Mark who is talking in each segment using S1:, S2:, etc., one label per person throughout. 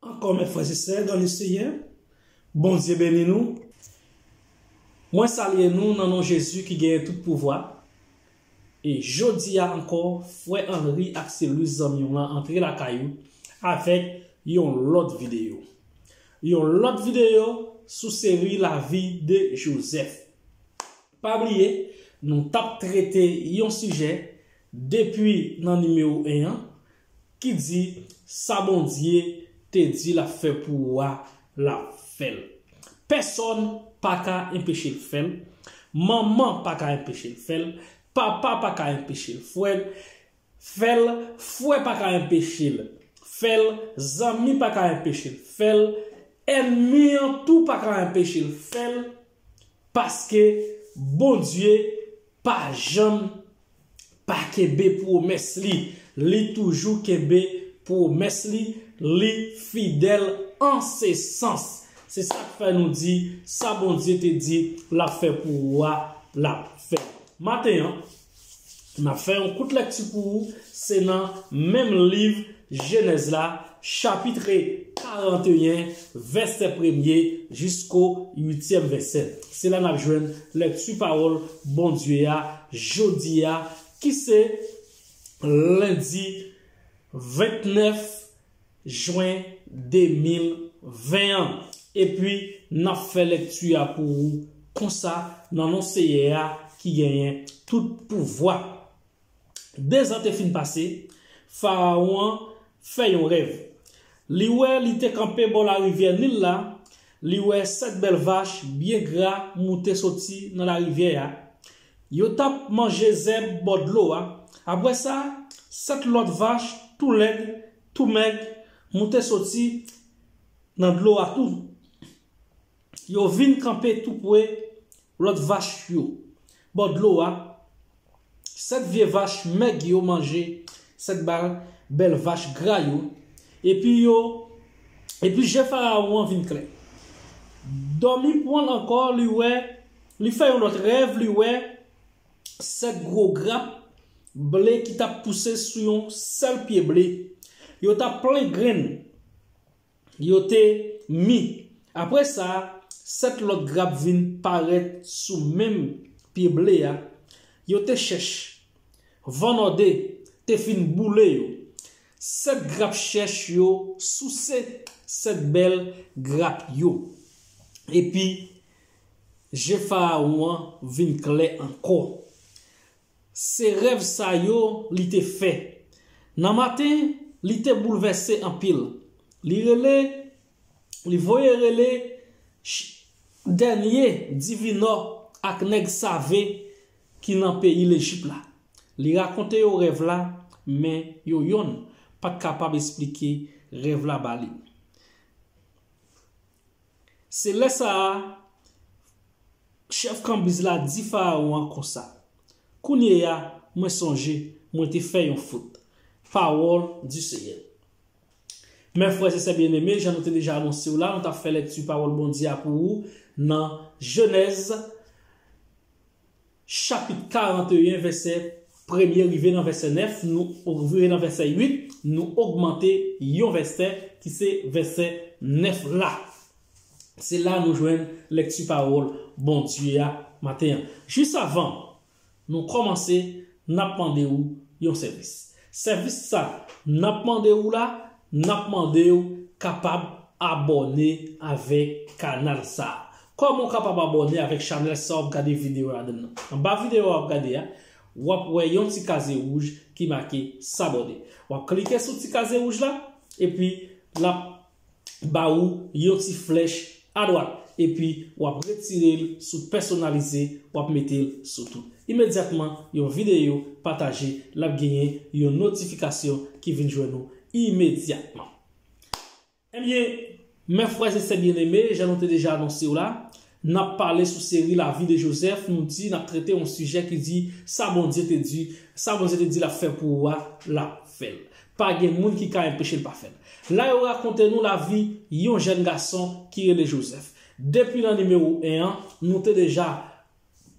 S1: Ankò mè frè se sè dan le seyè Bondye beni nou mwen salye nou nan non Jezi ki genyen tout pouvwa e jodia ankò frè Henry ak sè Louise zanmi w lan antre lakay ou avèk yon lòt videyo yon lòt videyo sou seri lavi de Joseph pa bliye nou tap trete yon sijè depi nan nimewo 1 an ki di sa Bondye te di lap fè pou ou a lap fèl pèsòn paka enpechel fèl manman paka enpechel fèl papa paka enpechel fwèl fèl fwè paka enpechel fèl zanmi paka enpechel fèl ènmi an tou paka enpechel fèl paske Bondye pa janm pa kenbe pwomès li. Li toujou kenbe pwomès li, li fidèl an se sans. Se sa k fè nou di, sa Bondye te di l ap fè pou ou a, l ap fè l. Maten an, m ap fè yon kout lèkti pou ou, se nan menm liv Jenèz la, chapitre 41, vèsè premye jisko uityèm vèsè. Se la n'ap jwenn lèkti pawòl Bondye a jodi a ki se lendi 29 jwen 2020 an. Epi n'ap fè lèkti a pou ou konsa nan non Seyè a ki genyen tout pouvwa. Dezan te fin pase, Farawon an fè yon rèv. Li wè li te kanpe bò larivyè Nil la, li wè sèt bèl vach byen gra moute soti nan larivyè a. Yo t ap manje zèb bò dlo a. Apre sa, sèt lòt vach tou lèd, tou mèg moute soti nan dlo a tou. Yo vin kanpe toupre lòt vach yo, bò dlo a, sèt vye vach mèg yo manje sèt bal bèl vach gra yo, epi yo Epi je Farawon an vin klè. Dòmi pran l ankò, li wè Li fè yon lòt rèv, li wè sèt gwo grap ble ki t ap pouse sou yon sèl pye ble. Yo t ap plen grenn. yo te mi. Apre sa, sèt lòt grap vin parèt sou menm pye ble a, yo te chèch. Van nòde te fin boule yo. Sèt grap chèch yo souse sèt bèl grap yo. Epi, je Farawon an vin klè ankò. Se rèv sa yo li te fè. Nan maten, li te boulvèse anpil. Li rele, li voye rele Ch. Dènye divinò ak nèg save ki nan peyi Lejip la. Li rakonte yo rèv la, men yo yonn pa t kapab esplike rèv la ba li. Se lè sa a, chèf kanbiz la di Farawon an konsa, Kounyeya, mwen sonje, mwen te fè yon fot. Pawòl di Senyè. Mè frè e sè byeneme, jan nou te deja anonse w la, nou t ap fè lèkti Pawòl Bondye a pou ou nan Jenèz, chapit 41 vèsè premye rive nan vèsè 9 nou rive nan vèsè 8 nou ogmante yon vèsè ki se vèsè 9 la se la nou jwenn lekti pawòl Bondye a maten an jis avan nou kòmanse nap mande ou yon sèvis Sèvis sa nap mande ou la nap mandew kapab abòne avèk kanal sa kòman ou kapab abòne avèk chanèl sa wap gade video ladann nan anba video wap gade a wap wè yon ti kaze wouj ki make sabòne wap klike sou ti kaze wouj la epi lap ba ou yon ti flèch adwat epi wap retire l sou pèsonalize wap mete l sou tout. Imedyatman yon videyo pataje lap genyen yon notifikasyon ki vin jwenn ou imedyatman. Ebyen, mè frè e sè byeneme, jan nou te deja anonse w la, N ap pale sou seri La vie de Joseph, nou di n ap trete yon sijè ki di sa Bondye te di, sa Bondye te di l ap fè pou ou a, l ap fè l. Pa gen moun ki ka enpeche l pa fè l. La yo rakonte nou lavi yon jèn gason ki rele Joseph. Depi nan nimewo 1 an, nou te deja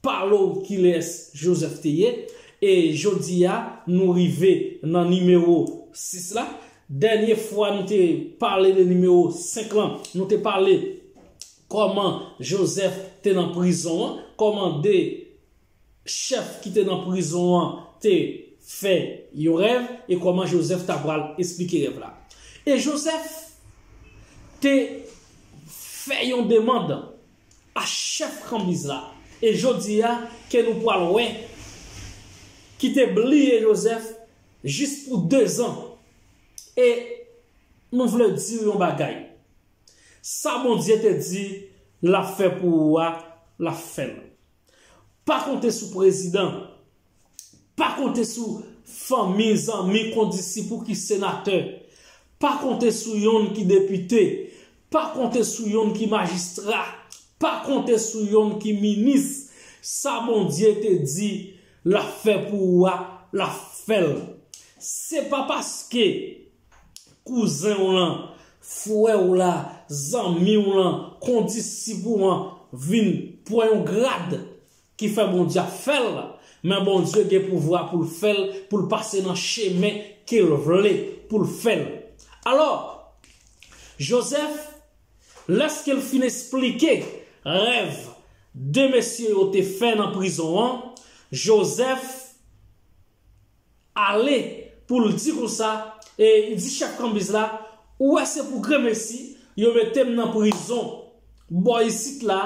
S1: pale w kilès Joseph te ye, e jodi a nou rive nan nimewo 6 la. Dènye fwa nou te pale de nimewo 5 lan, nou te pale Kòman Jozèf te nan prizon an? Kòman de chèf ki te nan prizon an te fè yon rèv? E kòman Jozèf t apral esplike rèv la? E Jozèf te fè yon demand a chèf kanbiz la, e jodi a ke nou pral wè, ki te bliye Jozèf jis pou dezan. E nou vle di w yon bagay. Sa Bondye te di lap fè pou ou a lap fèl. Pa konte sou prezidan, pa konte sou fanmi, zanmi, kondisip ou ki senatè, pa konte sou yonn ki depite, pa konte sou yonn ki majistra, pa konte sou yonn ki minis, sa Bondye te di lap fè pou ou a lap fèl. Se pa paske. kouzen w lan, frè w la, zanmi w lan, kondisip ou an vin pwan yon grad ki fè Bondye ap fè l, men Bondye gen pouvwa pou l fè l, pou l pase nan chemen ke l vle pou l fè l. Alò, Jozèf, lèske l fin esplike rèv de mesye yo te fè nan prizon an, Jozèf, Ale pou l di konsa, e di chèf kanbiz la, ou wè se pou gremesi yo mete m nan prizon bò isit la,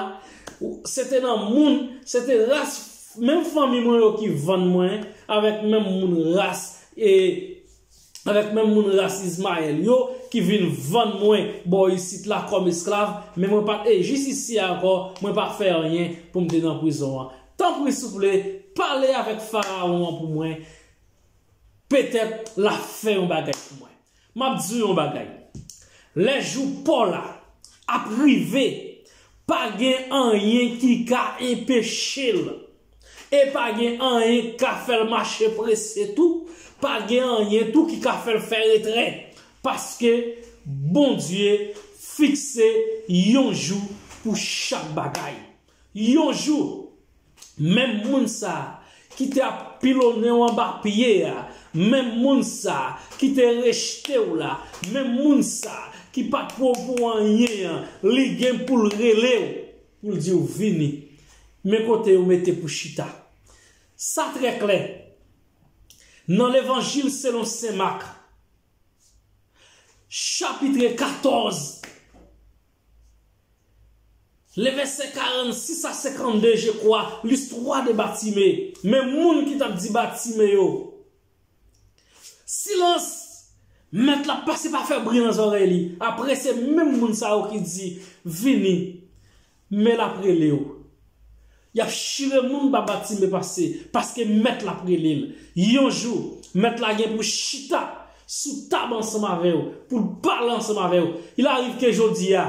S1: se te nan moun, se te ras menm fanmi mwen yo ki vann mwen avèk menm moun ras e avèk menm moun ras Izmayèl yo ki vin vann mwen bò isit la kòm esklav, men mwen pa t e jis isi a ankò, mwen pa fè anyen pou m te nan prizon an. Tanpri souple, pale avèk Farawon an pou mwen, petèt l ap fè yon bagay pou mwen. M ap di w yon bagay, lè jou pa w la ap rive, pa gen anyen ki ka enpeche l, e pa gen anyen ki ka fè l mache prese tou, pa gen anyen tou ki ka fè l fè retrè, paske Bondye fikse yon jou pou chak bagay. Yon jou, menm moun sa a ki te ap pilonnen w anba pye a, menm moun sa a ki te rejte w la, menm moun sa a ki pa t pran w pou anyen an, li gen pou l rele w, pou l di w, 'Vini, men kote yo mete pou chita. Sa trè klè, nan Levanjil selon sen Mak, chapitre 14. Le vèsè 46 a 52 je kwa listwa de Batime men moun ki tap di Batime yo silans mèt la pase pa fè bri nan zòrèy li apre se menm moun sa yo ki di vini men lap relew Yap chire moun ba batime pase, paske mèt la ap rele l. Yon jou, mèt la gen pou chita sou tab ansanm avè w, pou l pale ansanm avè w. Il arrive ke jodi a,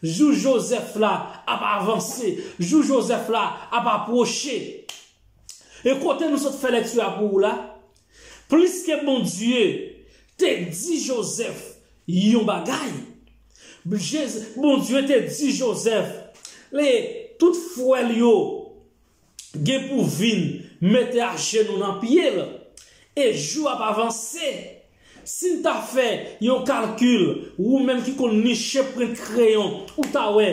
S1: jou Jozèf la ap avanse, jou Jozèf la ap apwoche. E kote nou sot fè lekti a pou ou la, Pliske Bondye te di Jozèf yon bagay, Bondye te di Jozèf e tout frè l yo gen pou vin mete ajenou nan pye l. E jou ap avanse. Si n ta fè yon kalkil, ou menm ki konn niche prent kreyon, ou ta wè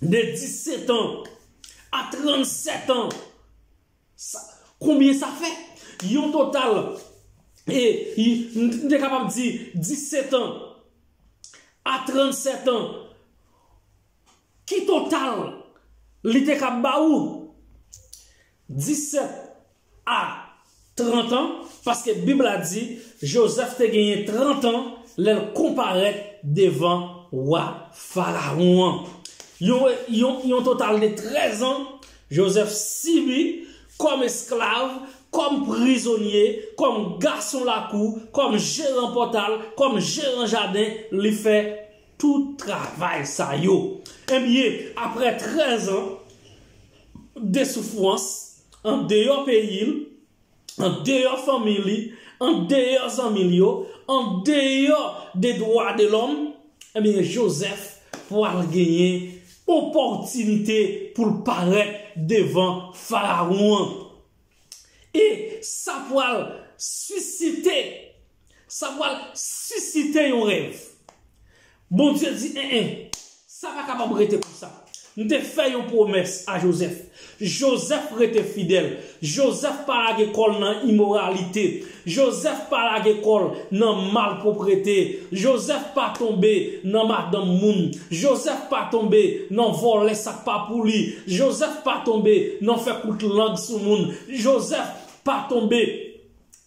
S1: de dissetan a trannsètan, Sa Konbyen sa fè? Yon total e m te kapab di 17 an a 37 an ki total li te kab ba ou? 17 a 30 an, paske Bib la di Jozèf te genyen 30 an lè l konparèt devan wa Farawon an. Yon total de 13 an Jozèf sibi, kòm esklav, kòm prizonye, kòm gason lakou, kòm jeran pòtal, kòm jeran jaden, li fè tout travay sa yo. Ebyen, apre trèzan de soufrans, andeyò peyi l, andeyò fanmi li, andeyò zanmi l yo, andeyò de dwa de lòm, ebyen Jozèf pral genyen opòtinite pou l parèt devan Farawon an. E sa pral sisite Sa pwal sisite yon rèv. Bondye di en en, sa pa kapab rete konsa. M te fè yon pwomès a Jozèf. Jozèf rete fidèl. Jozèf pa lage kò l nan imoralite. Jozèf pa lage kò l nan malpwoprete. Jozèf pa tonbe nan madanm moun. Jozèf pa tonbe nan vòlè sa k pa pou li. Jozèf pa tonbe nan fè kout lang sou moun. Jozèf pa tonbe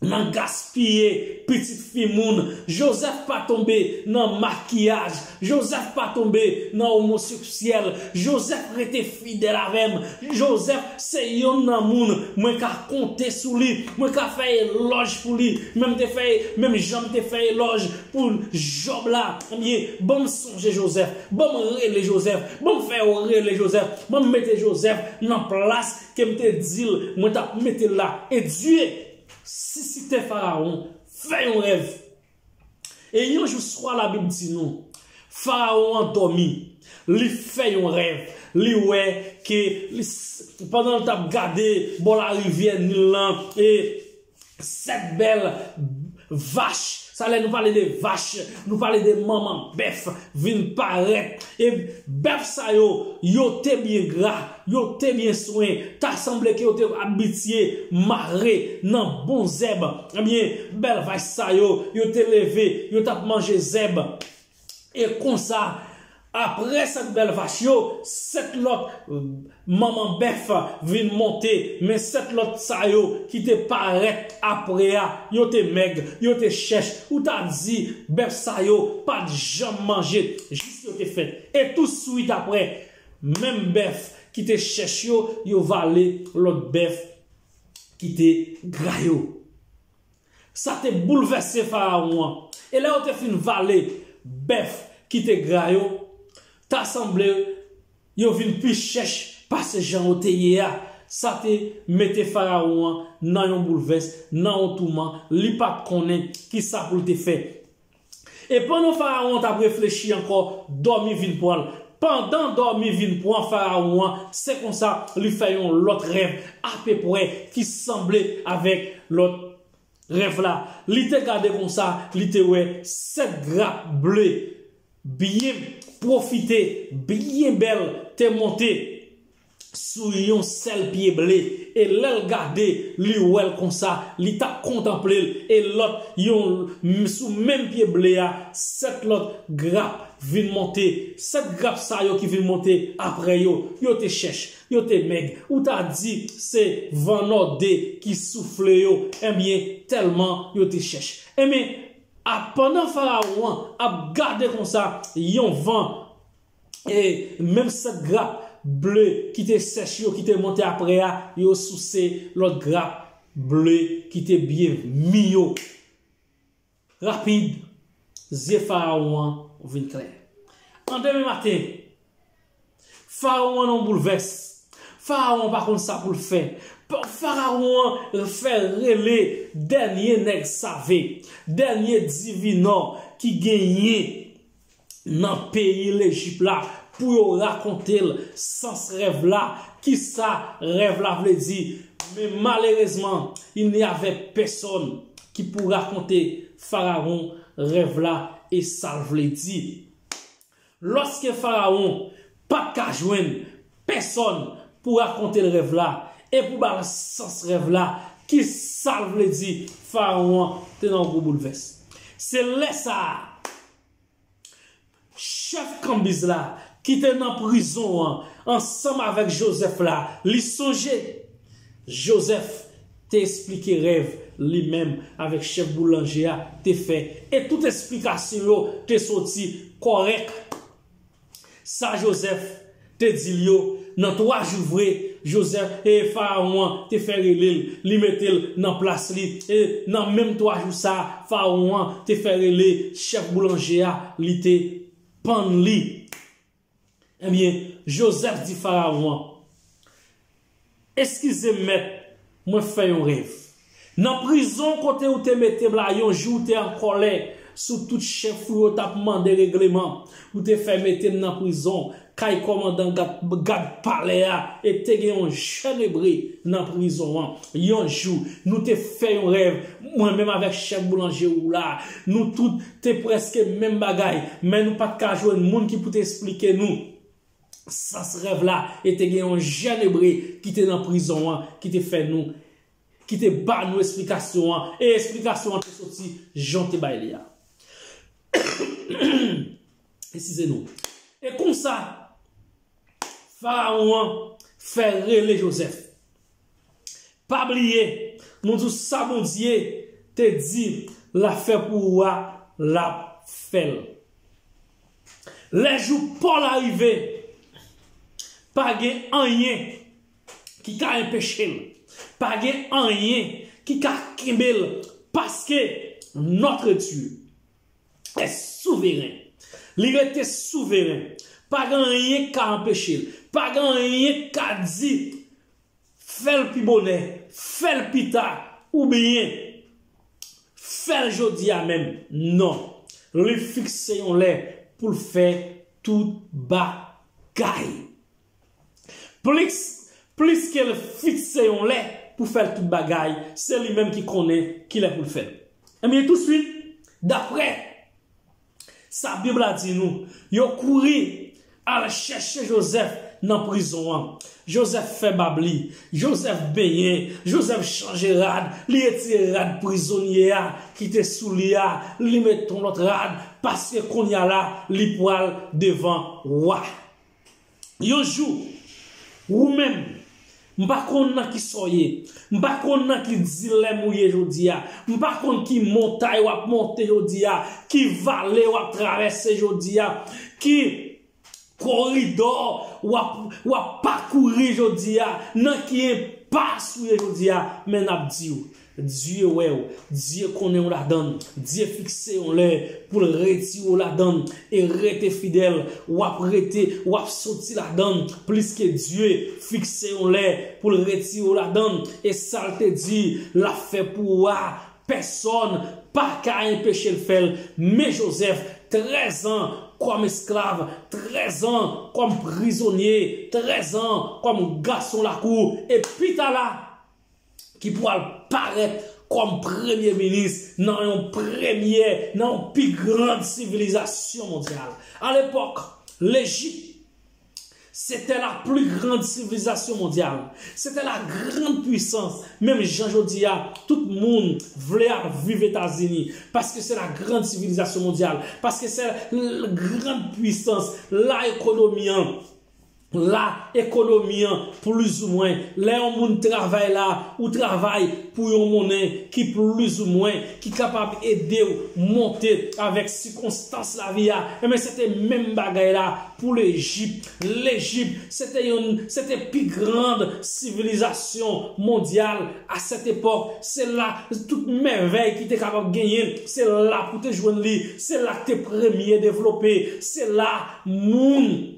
S1: nan gaspiye pitit fi moun, Joseph pa tonbe nan makiyaj, Joseph pa tonbe nan omoseksyèl, Joseph rete fidèl avè m, Joseph se yonn nan moun mwen ka konte sou li, mwen ka fè elòj pou li, men m te fè, menm jan m te fè elòj pou Job la, ebyen, ban m sonje Joseph, ban m rele Joseph, ban m fè yo rele Joseph, ban m mete Joseph nan plas Kem te dil mwen tap metel la edye sisite fararon fè yon rèv e yon jou swa labib di nou fararon an domi li fè yon rèv li wè ke pandanl tap gade bò larivyè nil lan e Sèt bèl vach, sa lè nou pale de vach, nou pale de manman bèf, vin parèt. E bèf sa yo, yo te byen gra, yo te byen swen, ta sanble ke yo te abitye mare nan bon zèb. Ebyen, bèl vach sa yo, yo te leve, yo t ap manje zèb. E konsa, apre 7 bèl vach yo, 7 lòt manman bèf vin monte, men 7 lòt sa yo ki te parèt apre a, yo te mèg, yo te chèch, ou ta di bèf sa yo pa t janm manje jis yo te fèt. E tousuit apre, menm bèf ki te chèch yo, yo vale lòt bèf ki te gra yo. Sa te boulvèse Farawon an, e lè yo te fin vale bèf ki te gra yo, ta sanble yo vin pi chèch pase jan yo te ye a. Sa te mete Farawon an nan yon boulvès, nan yon touman, li pa t konnen ki sa pou l te fè. E pandan Farawon an t ap reflechi ankò, dòmi vin pran l. Pandan dòmi vin pran Farawon an, se konsa li fè yon lòt rèv apepwè ki sanble avèk lòt rèv la. Li te gade konsa, li te wè sèt grap ble byen pwofite, byen bèl te monte. sou yon sèl pye ble, e lè l gade, li wè l konsa, li t ap kontanple l, e lòt, yon l, sou menm pye ble a, sèt lòt grap vin monte. Sèt grap sa yo ki vin monte apre yo, yo te chèch, yo te mèg, ou ta di se van nòde ki soufle yo, enben, tèlman yo te chèch. Enben, a, pandan Farawon an ap gade konsa, yon van e menm sant grap ble ki te sèch yo ki te monte apre a, yo souse lòt grap ble ki te byen mi yo. Rapid, zye Farawon an vin klè. An demen maten, Farawon an nan yon boulvès. Farawon an pa konn sa pou l fè. Farawon an fè rele dènye nèg save, dènye divinò ki genyen nan peyi Lejip la pou yo rakonte l sans rèv la, kisa rèv la vle di, men malerezman il n'y avait personne ki pou rakonte Farawon rèv la e sa l vle di. Lòske Farawon Pat ka jwenn pèsòn pou rakonte l rèv la e pou ba l sans rèv la, ki sa l vle di, farawon an te nan gwo boulvès. Se lè sa a, chèf kanbiz la, ki te nan prizon an ansanm avèk Jozèf la, li sonje. Jozèf te esplike rèv li menm avèk chèf boulanje a te fè e tout esplikasyon yo te soti kòrèk. Sa Jozèf te di l yo, nan twa jou vre, Jozèf, e Farawon an te fè rele l, li mete l nan plas li, e nan menm twa jou sa a, Farawon an te fè rele chèf boulanje a, li te pann li. Ebyen, Jozèf di Farawon, Eskize m mèt, mwen fè yon rèv. Nan prizon kote ou te mete m la yon jou ou te an kòlè sou tout chèf ou yo t ap mande regleman, ou te fè mete m nan prizon kay kòmandan gad palè a e te gen yon jèn ebre nan prizon an. Yon jou, nou te fè yon rèv, mwen menm avèk chèf boulanje ou la. Nou tout te prèske menm bagay, men nou pa t ka jwenn moun ki pou te esplike nou. sans rèv la e te gen yon jèn Ebre ki te nan prizon an ki te fè nou, ki te ba nou esplikasyon an, e esplikasyon an te soti jan w te bay li a. Eskize nou. E konsa, Farawon an fè rele Jozèf. Pa bliye Nou di w sa Bondye te di la fè pou ou a lap fè l Lè jou paw la rive pa gen anyen ki ka enpeche l pa gen anyen ki ka kenbe l paske notre Dieu est souverain li rete souverain pa gen anyen ki ka anpeche l pa gen anyen ki ka di Fèl pi bonè, fèl pita oubyen fèl jodia menm non. Li fikse yon lè poul fè tout bagay. Plis plis kel fikse yon lè pou fèl tout bagay, se li menm ki konnen kilè poul fèl. Ebyen touswit daprè. Sa Bib la di nou, Yo kouri al chèche Jozèf nan prizon an. Jozèf fè bab li. Jozèf benyen. Jozèf chanje rad. Li retire rad prizonye a ki te sou li a, li met yon lòt rad, paske kounye a la, li pral devan wa. Yon jou, ou menm, m pa konn nan ki sa w ye, m pa konn nan ki dilèm ou ye jodi a, m pa konn ki montay w ap monte jodi a, ki vale w ap travèse jodi a, ki koridò w ap w ap pakouri jodi a, nan ki enpas ou ye jodi a, men n ap di w, Dye wè w, Dye konnen w ladan l, Dye fikse yon lè pou l retire w ladan l, e rete fidèl, w ap rete, w ap soti ladan l, pliske Dye fikse yon lè pou l retire w ladan l, e sa l te di l ap fè pou ou a, pèsòn pa ka enpeche l fè l, men Jozèf, trèzan kòm esklav, trèzan kòm prizonye, trèzan kòm gason lakou, e pi ta la, ki pwal parèt kòm premye minis nan yon premyè nan yon pi grand sivilizasyon mondyal. A lepòk, Lejip se tè la pli grand sivilizasyon mondyal. Se tè la grand pwisans, menm jan jodi a, tout moun vle al viv Etazini, paske se la grand sivilizasyon mondyal, paske se l grand pwisans, la ekonomi an. la ekonomi an plizoumwen lè yon moun travay la ou travay pou yon monnen ki plizoumwen ki kapab edew monte avèk sikonstans lavi a enben se te menm bagay la pou lejip lejip se te yon se te pi grand sivilizasyon mondyal a sèt epòk se la tout mèvèy ki te kapab genyen se la pou te jwenn li se la te premye devlope se la moun.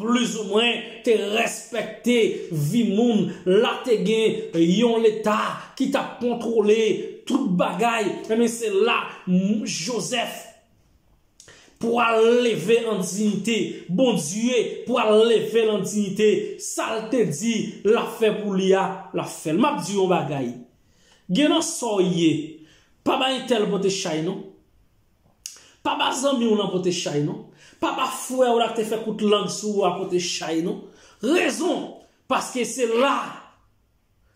S1: plizoumwen te respekte vi moun la te gen yon leta ki tap kontwole tout bagay enben se la Joseph pwal leve an diyite Bondye pwal level an diyite sal te di lap fè pou li a lap fèl map di yon bagay gen nan sa w ye pa bay tel pote chay non. Pa ba zanmi w lan pote chay non. Pa ba frè w la k te fè kout lang sou ou a pote chay non. Rezon, paske se la,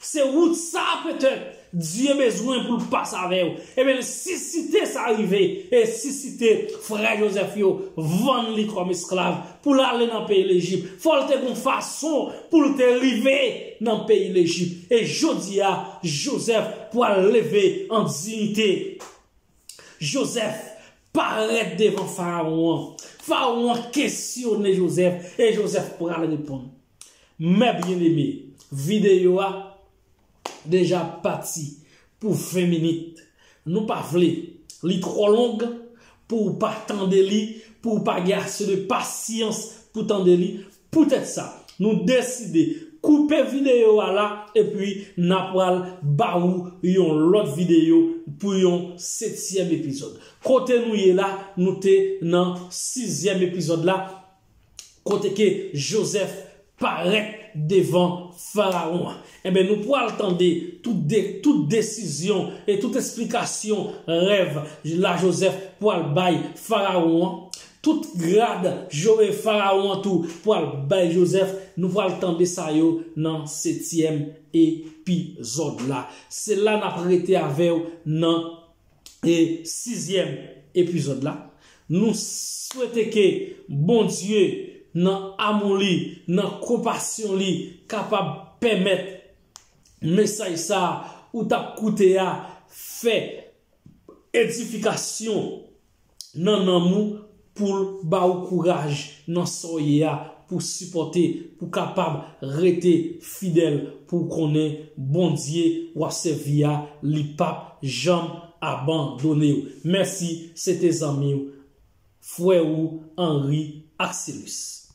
S1: se wout sa petèt Dye bezwen pou l pase avè w. Ebyen l sisite sa rive, e sisite frè Jozèf yo vann li kòm esklav pou l ale nan peyi Lejip. Fò l te gon fason pou l te rive nan peyi Lejip. E jodi a, Jozèf pral leve an diyite Jozèf parèt devan Farawon an. Farawon an kesyone Jozèf e Jozèf pral reponn. Mè byeneme, videyo a deja pati pou 20 minit. Nou pa vle li twò long pou ou pa tande li, pou ou pa gen ase de pasyans pou tande li. Poutèt sa, nou deside koupe videyo a la epi n a pral ba ou yon lòt videyo pou yon setyèm epizòd. Kote nou ye la, nou te nan sizyèm epizòd la kote ke Jozèf parèt devan Farawon an. Enben, nou pral tande tout de, tout desizyon e tout esplikasyon rèv la Jozèf pral bay Farawon an. Tout grad jore fararon an tou pwal bay Joseph nou pwal tande sa yo nan setyèm epizòd la se la nap rete avèw nan e sizyèm epizòd la nou swete ke Bondye nan amou li nan konpasyon li kapab pèmèt mesaj sa ou tap koute a fè edifikasyon nan nanm ou poul ba ou kouraj nan sa w ye a pou sipòte pou kapab rete fidèl pou w konnen Bondye wap sèvi a li pap janm abandone w mèsi se te zanmi w frè ou Henry Axelus.